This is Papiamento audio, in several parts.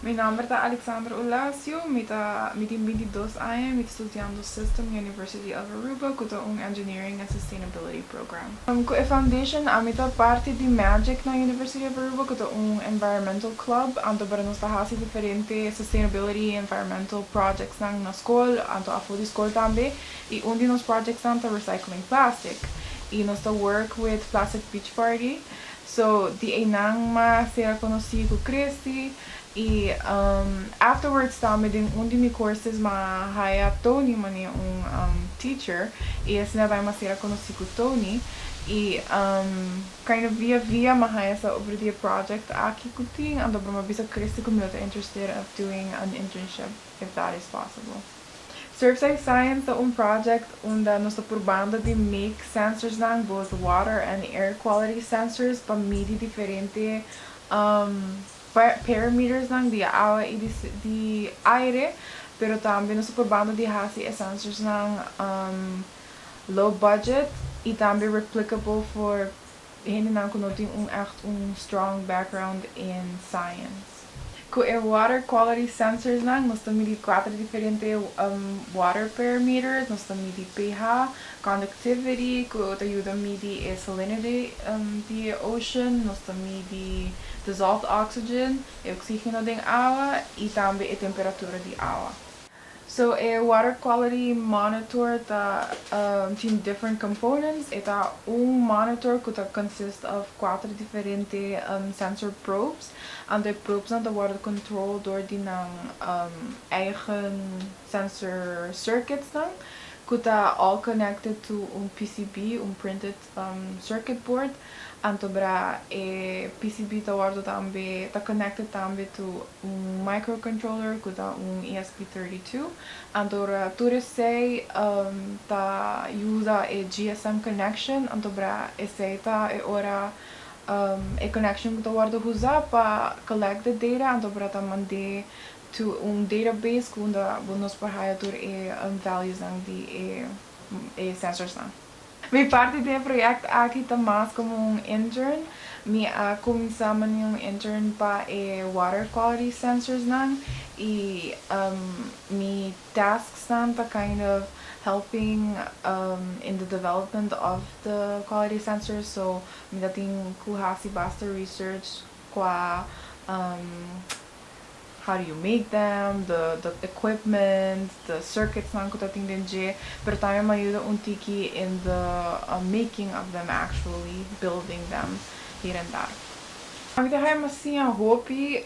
Mi nomber ta Alexandra Ulasio, mi ta mi tin binti dos aña, mi ta studiando System na University of Aruba cu ta un Engineering and Sustainability Program. Ku e foundation ami ta parti di magic na University of Aruba ku ta un environmental club anto para nos ta hasi diferente sustainability y environmental projectsnan na skol anto afo di skol tambe y un di nos projectsnan ta recycling plastic y nos ta work with plastic beach party so di eynan mas ser a conoci cu Christy I afterwards ta mi den un di mi courses mi a haya Tony mane un teacher i esnan a bay mi a cera conoci cu Tony i kind of via via mi a haya sa over di e project aki cu tin anto pero mi a bisa Christy cu mi lo ta interested of doing an internship if that is possible. Surfside Science ta un project unda nos ta purbando di make sensorsnan both water and air quality sensors pa midi diferente Perimetersnan di awa i di aire, pero tambe nos ta probando di hasi e sensorsnan low budget i tambe replicable for hendenan ku no tin un ègt un strong background in science. Ku e water quality sensorsnan nos ta midi kuater diferente water perimeters, nos ta midi pH, Conductivity, cu ta yuda midi e salinity di e ocean, nos ta midi dissolved oxygen, e oxigeno den awa, y tambe e temperatura di awa. So e water quality monitor ta tin different components, e ta un monitor cu ta consist of cuater diferente sensor probes, anto e probes nan ta worde control door di nan eigen. sensor circuitsnan cu ta all connected to un PCB, un printed circuit board, anto bra e PCB ta wordo tambe ta connected tambe to un microcontroller cu ta un ESP32, anto bra tur esey ta usa e GSM connection, anto bra esey ta e ora e connection cu ta wordo usa pa collect the data anto bra ta mand'e To un database ku unda bo nos por haya tur e valuesnan di e sensorsnan. Mi parti den e proyekt aki ta mas komo un intern. Mi a kuminsá manera un intern pa e water quality sensorsnan i mi tasksnan ta kind of helping in the development of the quality sensors. So mi ta tin ku hasi basta research kua. how do you make them, the the equipment, the circuits nan cu ta tin den dje, pero tambe m'ha yuda un tiki in the making of them actually, building them hier en daar. Mi ta haña mas siña hopi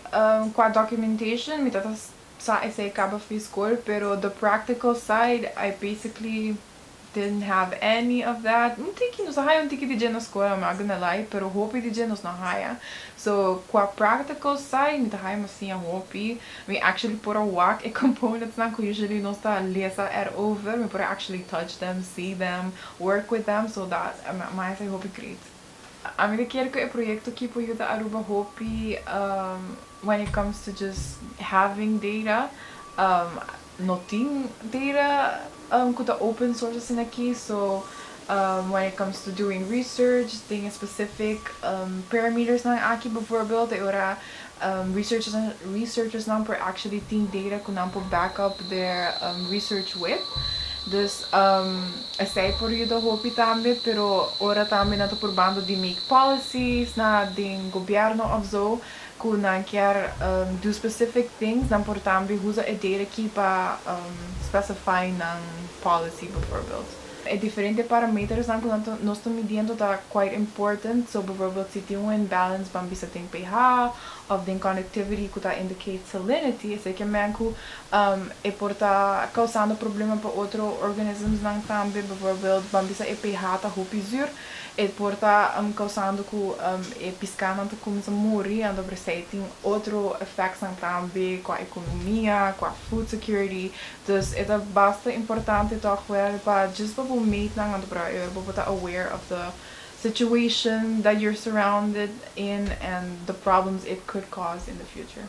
cua documentation, mi ta ta sa esey caba fi scol, pero the practical side I basically didn't have any of that un tiki nos a haya un tiki di dje na skola ma agan alai pero hopi di dje nos no haya so kua practical sai mi ta haya mas siña hopi mi actually por a wak e components nan ku usually nos ta lesa er over mi por a actually touch them see them work with them so dat mi a haya sai hopi great. Ami ta kier cu e proyecto aki por yuda Aruba hopi when it comes to just having data. No tin data cu ta open source asina aki so when it comes to doing research den e specific parametersnan aki bijvoorbeeld e ora. Researchersnan por actually tin data cu nan por back up der research with. Dus esey por yuda hopi tambe, pero ora tambe nan ta purbando di make policies na den gobierno of zo cu nan kier do specific things, nan por tambe usa e data aki pa specify nan policy bijvoorbeeld. E diferente parametersnan ku nos ta midiendo ta quite important, so bijvoorbeeld si tin un imbalance ban bisa den pH of den conductivity ku ta indicate salinity, esei ke men ku e por ta causando problema pa otro organismsnan tambe, bijvoorbeeld ban bisa e pH ta hopi zuur, e por ta causando ku e piskánan ta cuminsa muri, anto por esei tin otro effectsnan tambe, kua economia, kua food security, Dus e ta basta importante tòg wèl pa djis pa bo meetnan anto por a ur bo por ta aware of the situation that you're surrounded in and the problems it could cause in the future.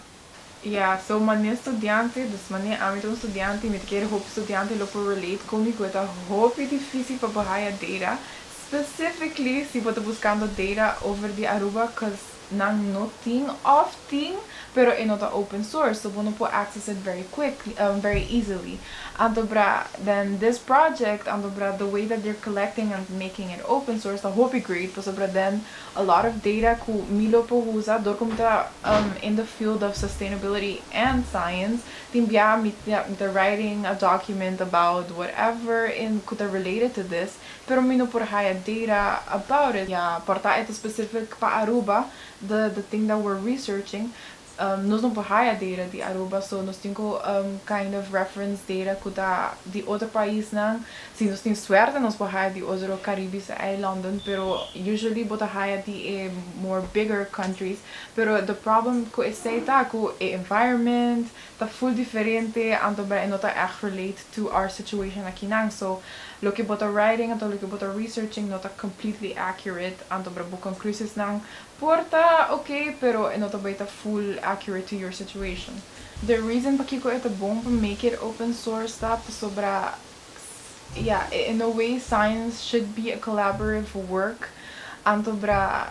Ya, so manera studiante, dus manera ami ta un studiante y mi ta kere hopi studiante lo por relate con mi cu e ta hopi difici pa bo haya data, specifically si bo ta buscando data over di Aruba cuz nan no tin of tin pero e no ta open source so bo no por access it very quick very easily anto bra den this project anto bra the way that they're collecting and making it open source ta hopi great paso bra den a lot of data cu mi lo por usa dor cu mi ta in the field of sustainability and science tin bia mi ta writing a document about whatever in cu ta related to this. pero mi no por haya data about it ya por ta eto specific pa Aruba the the thing that we're researching um nos no por haya data di Aruba so nos tin cu um kind of reference data cu ta di otro paisnan si nos tin suerte nos por haya di otro Caribische eilandan pero usually bo ta haya di e more bigger countries pero the problem cu esey ta cu e environment ta full diferente anto bra e no ta echt relate to our situation akinan so loke bo ta writing anto loke bo ta researching no ta completely accurate anto bra bo conclusiesnan por ta ok pero e no ta bay ta full accurate to your situation. The reason pakiko e ta bon pa make it open source ta pasobra ya in a way science should be a collaborative work anto bra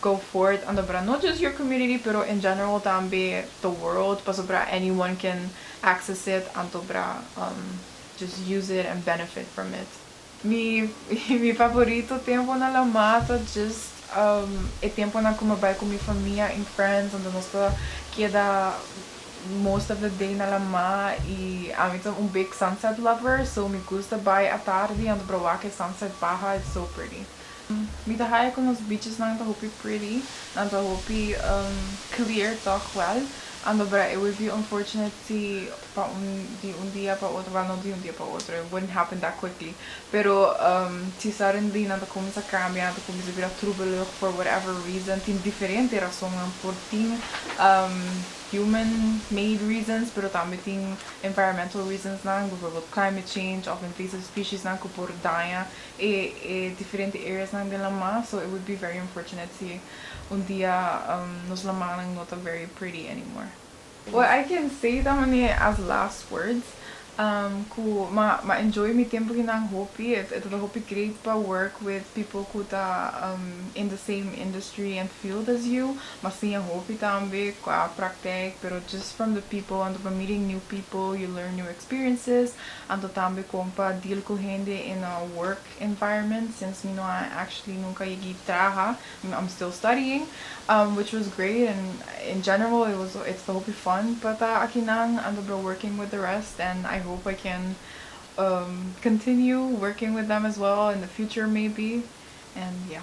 go voort a dobra no just your community pero in general tambe the world pasobra anyone can access it a dobra um just use it and benefit from it. Mi mi favorito tempo na la mar ta just um e temponan ku mi bai ku mi famia en friends unda nos ta keda most of the day na la mar i ami ta un big sunset lover so mi gusta bai atardi a dobra wak e sunset baha it's so pretty. Mi ta haja cu nos beachesnan ta hopi pretty, nan ta hopi clear toch wel. A no bra e wavy unfortunately pa un di un dia pa otro, wel no di un dia pa otro, it wouldn't happen that quickly, pero si sudden di nan ta cuminsa cambia, nan ta cuminsa bira troebelucht for whatever reason, tin diferente razonnan por tin human made reasons pero tambe tin environmental reasonsnan, bijvoorbeeld climate change of invasive speciesnan cu por daña. e e diferente areas nan den Lamar so it would be very unfortunate si un dia nos Lamar nan no ta very pretty anymore. Well I can say it tamane as last words cu ma ma enjoy mi tempo aki nan hopi e e tabata hopi great pa work with people cu ta in the same industry and field as you ma siña hopi tambe cua practec pero just from the people anto pa meeting new people you learn new experiences Anto tambe kon pa deal ku hende in a work environment since mi no a actually nunka yegi traha I'm still studying um which was great and in general it was it's ta hopi fun pa ta akinan anto bro working with the rest and I hope I can um continue working with them as well in the future maybe and yeah.